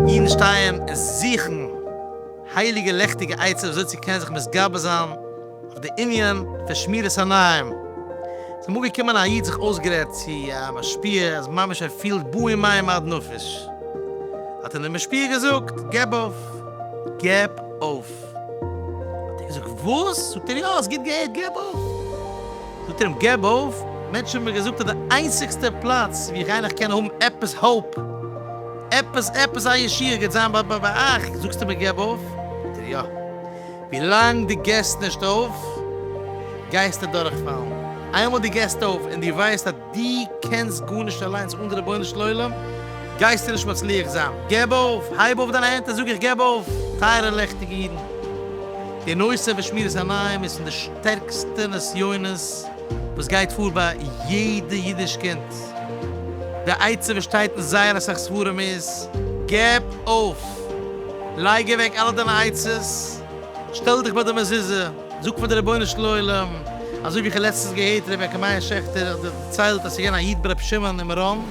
אידן שטייען און זוכן הייליגע לעכטיגע עצות וויאזוי צו קענען זיך מתגבר זיין אויף די ענין פון שמירת עיניים. ס'איז אמאל געקומען א איד זיך אויסגערעדט צו א משפיע אז ממש ער פילט באים מים עד נפש. האט אים דער משפיע געזאגט, געב אויף! געב אויף! האט ער געזאגט וואס? זאגט ער יא האסט גוט געהערט געב אויף! זאגט ער אים געב אויף? מענטשן האבן מיר געזאגט אז די איינציגסטע פלאץ ווי איך גיי נאך קענען האבן עפעס האופ, עפעס עפעס א ישועה גייט זיין ביי ביי אייך, זאגסטו מיר געב אויף? זאגט ער יא ווילאנג דו געסט נישט אויף גייסטו דורכפאלן, איינמאל דו געסט אויף און דו ווייסט אז. די קענסט גארנישט אליינס אן די רבונו של עולם גייסטו נישט מצליח זיין, געב אויף, הייב אויף דיינע הענט און זאג איך געב אויף, טייערע לעכטיגע אידן, די נושא פון שמירת עיניים איז פון די שטערקסטע נסיונות וואס גייט פאר ביי יעדע אידיש קינד, די עצה וואס שטייט אין זייער אסאך ספרים איז, געב אויף, לייג אוועק אלע דיינע עצות, שטעל דיך ביי די מזוזה, זאג פאר די רבונו של עולם, אזוי ווי איך האב לעצטנס געהערט רבי יעקב מאיר שעכטער האט דערציילט אז ס'איז געווען א איד ברבי שמעון אין מירון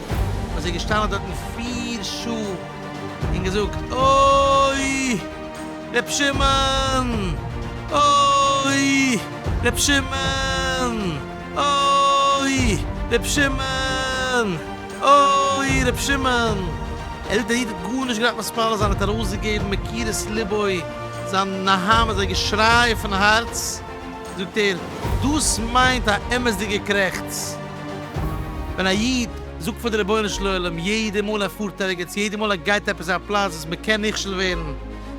וואס איז געשטאנען דארטן פיר שעה און געזאגט אוי רבי שמעון אוי רבי שמעון אוי רבי שמעון. אוי ר' שמעון! ער האט די איד גארנישט געדארפט מספיד זיין, ער האט ארויסגעגעבן מקירות לבו, זיין נהמא איז געשריי פון הארץ, זאגט ער, דאס מיינט א אמת'דיגע קרעכץ, ווען א איד זאגט פאר די רבונו של עולם יעדע מאל ער פארט ערגעץ, יעדע מאל ער גייט עפעס א פלאץ וואס מען קען נכשל ווערן,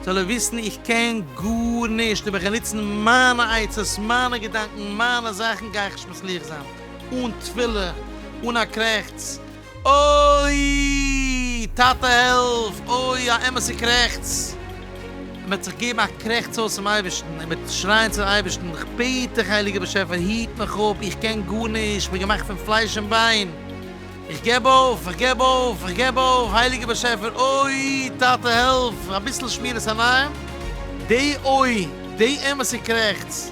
זאל ער וויסן איך קען גארנישט, אויב איך גיי נוצן מיינע עצות, מיינע געדאנקען, מיינע זאכן, גיי איך נישט מצליח זיין. אן תפילה, אן א קרעכץ, אוי! טאטע העלף! אוי! א אמת'ע קרעכץ! און מ'וועט זיך געבן א קרעכץ אויס צום אייבערשטן, און מ'וועט שרייען צום אייבערשטן, כ'בעט דיך הייליגער באשעפער היט מיך אפ, איך קען גארנישט, כ'בין געמאכט פון פלייש און ביין, איך געב אויף, איך געב אויף, איך געב אויף, הייליגער באשעפער, אוי! טאטע העלף! אביסל שמירת עיניים, דעי אוי! דעי אמת'ע קרעכץ!